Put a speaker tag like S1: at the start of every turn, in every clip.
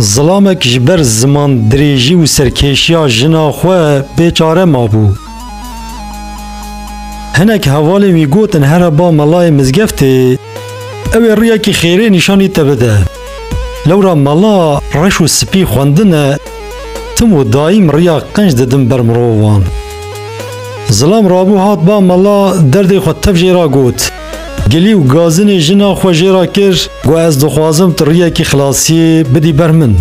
S1: Zilamek ji ber ziman dirêjî û serkêşiya jina xwe bêçare mabû. Hinek hevalên wî gotin here ba melayê mizgeftê ew ê riyekî xêrê nîşanî te bide. Lewra mela reş û spî xwendine tim û daîm riya qenc didin ber mirovan. Zilam rabû hat ba mela derdê xwe tev jê re got. Gilî û gazinê jina xwe jê re kir, got ez dixwazim tu riyekî xilasiyê bidî ber min.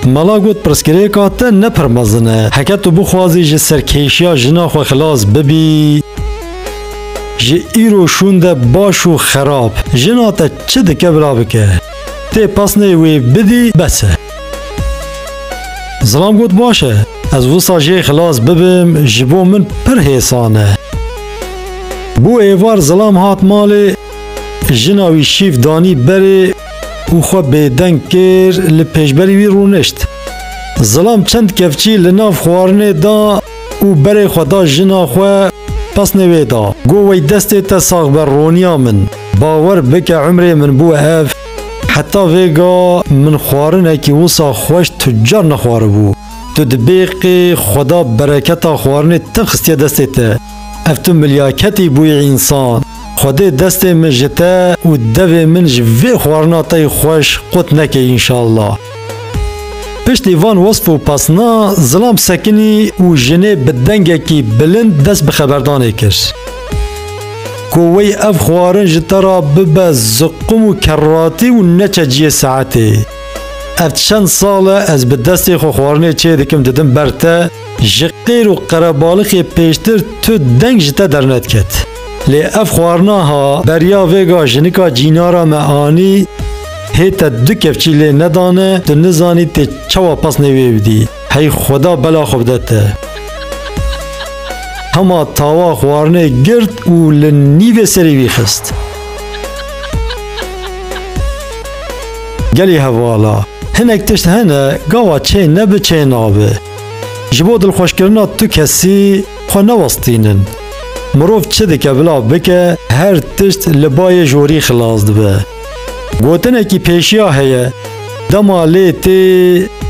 S1: Mala got pirsgirêka te ne pir mezin e, heke tu bixwazî ji serkêşiya jina xwe xilas bibî, ji îro şûnde baş û xerab jina te çi dike bila bike, tê pesnê wê bidî bes e. Zilam got baş e. Ez wisa jê xilas bibim ji bo min pir hêsan e. Bû êvar zilam hat malê, jina wî şîf danî berê û xwe bêdeng kir li pêşberî wî rûnişt. Zilam çend kevçî li nav xwarinê da û berê xwe da jina xwe pesnê wê da. Got wey destê te sax be Roniya min, bawer bike umrê min bû ev. Heta vêga min xwarinekî wisa xweş tu car nexwaribû. Tu di bêqê xweda bereketa xwarinê te xistiye destê te. Ev tu milyaketî bûyî însan. Xwedê destê min ji te û devê min ji vê xwarina te yê xweş qut neke înşallah. Piştî van wesf û pasna Zilam sekinî û jinê bi dengekî bilind dest bi xeberdanê kir. Ku wey ev xwarin ji te ra bibe ziqum û kerratî û neçe ciyê saetê. Ev çend sal e ez bi destê xwe xwarinê çê dikim didim ber te, ji qêr û qerebalixê pêştir tu deng ji te dernediket. Lê ev xwarina ha beriya vêga jinika cînara me anî hê te du kevçî lê nedane tu nizanî tê çawa pasnê wê bidî. Hey xweda bela xwe bide te. Hema tawa xwarinê girt û li nîvê serî wî xist. Gelî hevala. Hinek tişt hene gava çê nebi çê nabi. Ji bo dilxweşkirina tu kesî Xwe newestînin. Mirov çi dike bila bike her tişt li bayê jorî xilas dibe. Gotinekî pêşiya heye dema lê tê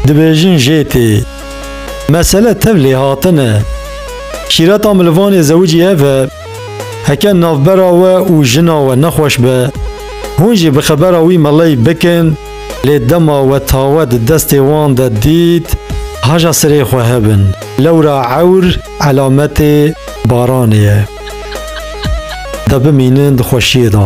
S1: dibêjin jê tê. Mesele tev lêhatin e. Şîreta milivanê zewicî ev e. Heke navbera we û jina we nexweş be, hûn jî bi xebera wî meley bikin, Lê dema we tawe di destê wan de dît, haja sirê xwe hebin. Lewra ewr elametê baranê ye. De bimînin di xweşiyê de.